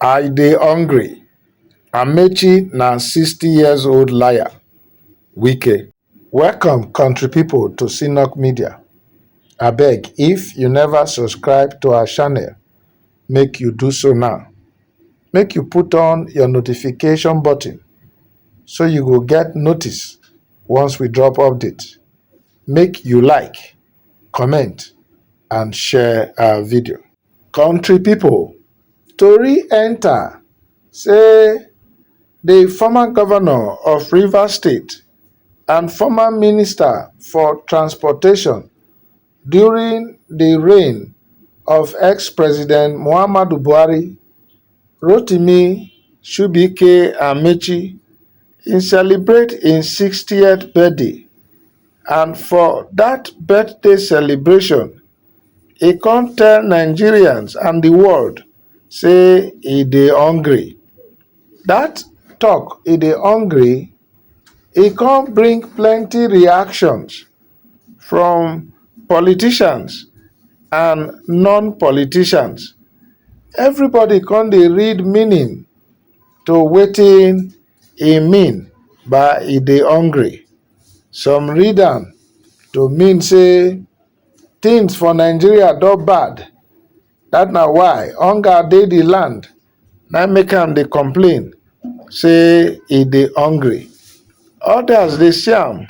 i dey hungry amaechi na sixty years old liar wike welcome country pipo to cnock media abeg if you neva subscribe to our channel make you do so now make you put on your notification button so you go get notice once we drop update make you like comment and share our video. Country pipo tori enta say di former govnor of Rivers state and former minister for transportation during di reign of ex-president Muhammadu Buhari, Rotimi Shuibike Amaechi in celebrate im 60th birthday and for dat birthday celebration, e come tell nigerians and di world say e dey hungry. Dat tok e dey hungry e come bring plenty reactions from politicians and non politicians. Everybody come dey read meaning to wetin e mean by e dey hungry. Some read am to mean say Things for Nigeria don bad, that na why hunger dey the land na make am dey complain say e dey hungry. Others dey see am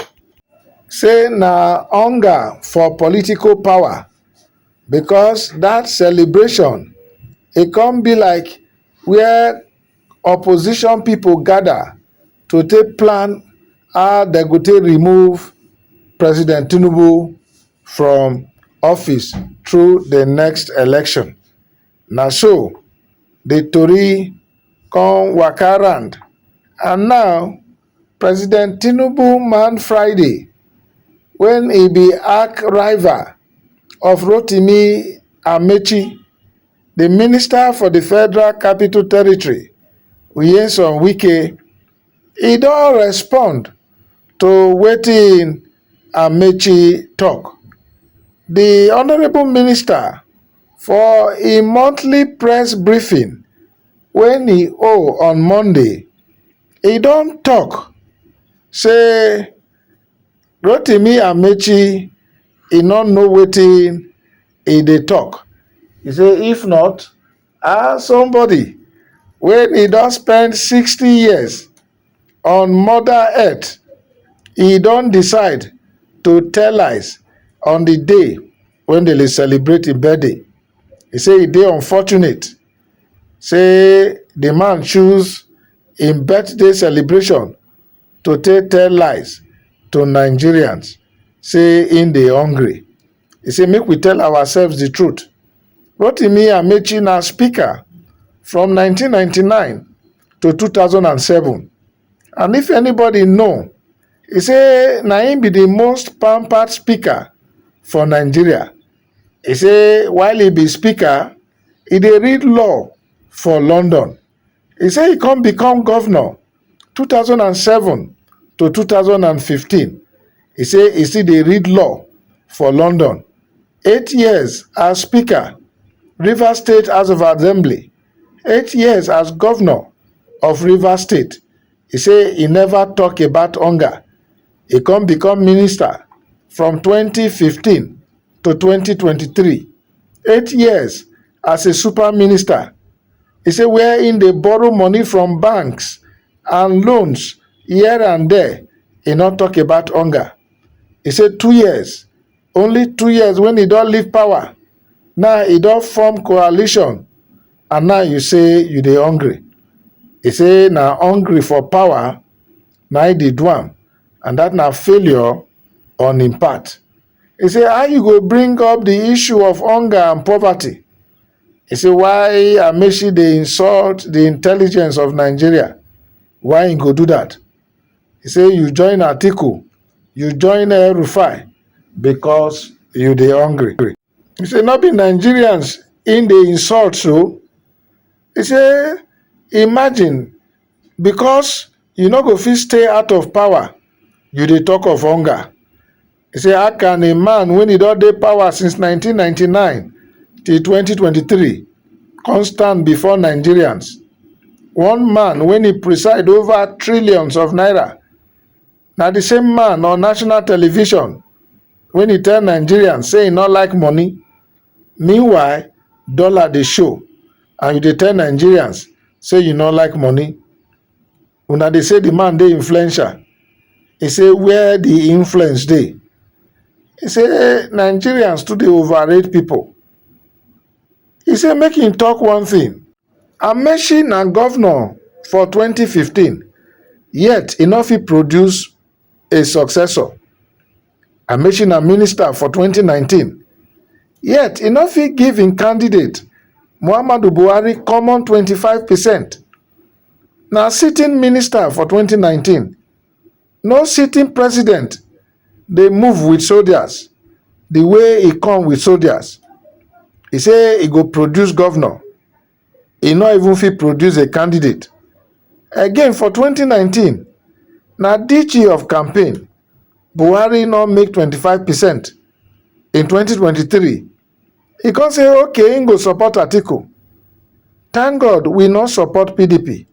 say na hunger for political power because that celebration e come be like where opposition pipo gada to take plan how dem go take remove president tinubu from office through di next election na so di tori come waka round and now president tinubu man friday wen e be arch rival of rotimi amaechi di minister for di federal capital territory nyesom wike e don respond to wetin amaechi tok di honourable minister for im monthly press briefing wey e hold on monday e don tok say rotimi amaechi e no know wetin e dey talk e say if not um somebody wey e don spend sixty years on mother earth e don decide to tell lies on the day wey dem dey celebrate im birthday e say e dey unfortunate say the man choose im birthday celebration to take tell lies to nigerians say im dey hungry he say make we tell ourselves the truth rotimi amaechi na speaker from 1999 to 2007 and if anybody know he say na him be the most pampered speaker for nigeria he say while he be speaker he dey read law for london he say he come become governor 2007 to 2015, e say e still dey read law for London, eight years as Speaker, Rivers State House of Assembly, eight years as Governor of Rivers State, e say e never talk about hunger, e come become Minister from 2015 to 2023. eight years as a super minister e say wia im dey borrow money from banks and loans here and there e no tok about hunger e say two years only two years wen e don leave power now e don form coalition and now you say you dey hungry e say na hungry for power na im dey do am and dat na failure on im part He say how you go bring up the issue of hunger and poverty? He say why Amechi dey insult the intelligence of Nigeria? Why he go do that? He say you join Atiku, you join Rufai because you dey hungry. He say no be Nigerians in dey insult so. He say imagine because you no go fit stay out of power you dey talk of hunger he say how can a man when he don dey power since 1999 till 2023 come stand before nigerians one man when he preside over trillions of naira na the same man on national television when he tell nigerians say he no like money meanwhile dollar dey show and you dey tell nigerians say you no like money una dey say the man dey influential he say where the influence dey he say nigerians too dey overrate people he say make him talk one thing amaechi na governor for 2015 yet he no fit produce a successor amaechi na minister for 2019 yet e no fit give im candidate muhammadu buhari common 25 percent na sitting minister for 2019 no sitting president dey move with soldiers the way e come with soldiers e say e go produce governor e no even fit produce a candidate again for 2019 na dg of campaign buhari no make 25 percent in 2023 e come say okay im go support atiku thank god we no support pdp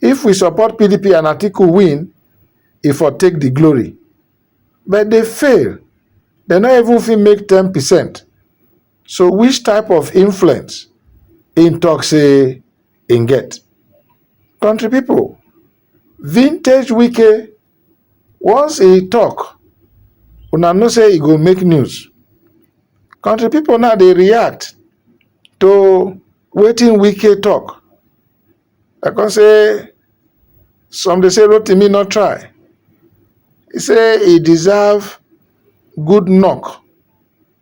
if we support pdp and atiku win e for take di glory but dey fail dem no even fit make ten percent So which type of influence im talk say im get? Country people, vintage Wike once he talk una know say e go make news. Country people now dey react to wetin Wike talk. I come say some dey say Rotimi no try. He say he deserve good knock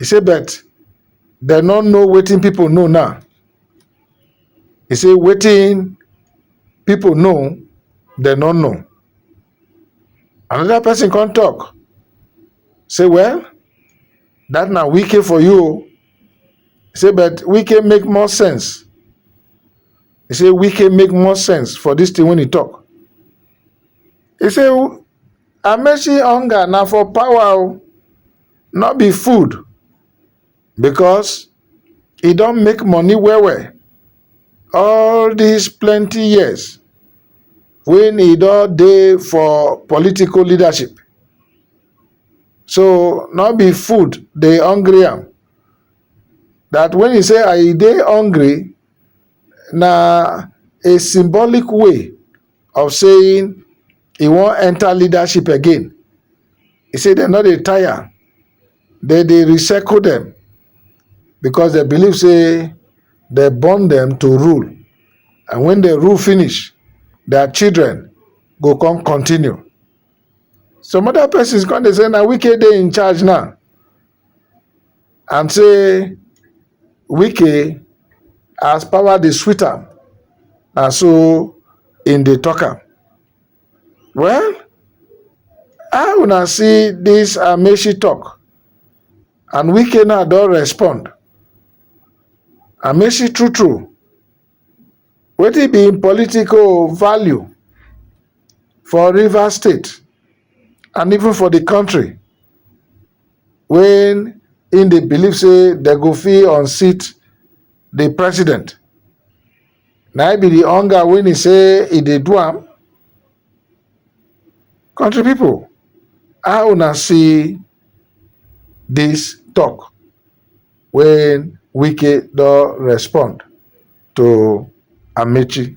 e say but dem no know wetin pipo know now e say wetin pipo know dem no know anoda pesin come tok say well dat na wike for you o e say but wike make more sense e say wike make more sense for dis tin wey e tok e say amaechi hunger na for power o no be food because e don make money well well all dis plenty years wey e don dey for political leadership so no be food dey hungry am that when e say I dey hungry na a symbolic way of saying he wan enter leadership again he say dem no dey tire dem dey recycle dem because dem believe say dem born dem to rule and when dem rule finish their children go come continue some other persons come dey say na wike dey in charge now and say wike as power dey sweet am na so im dey talk am well how una see this amechi talk and wike now don respond amechi true true wetin be im political value for rivers state and even for the country wey im dey believe say dem go fit unseat di president na im be di hunger wey e say e dey do am. Country people how una see dis talk wey Wike don respond to Amaechi?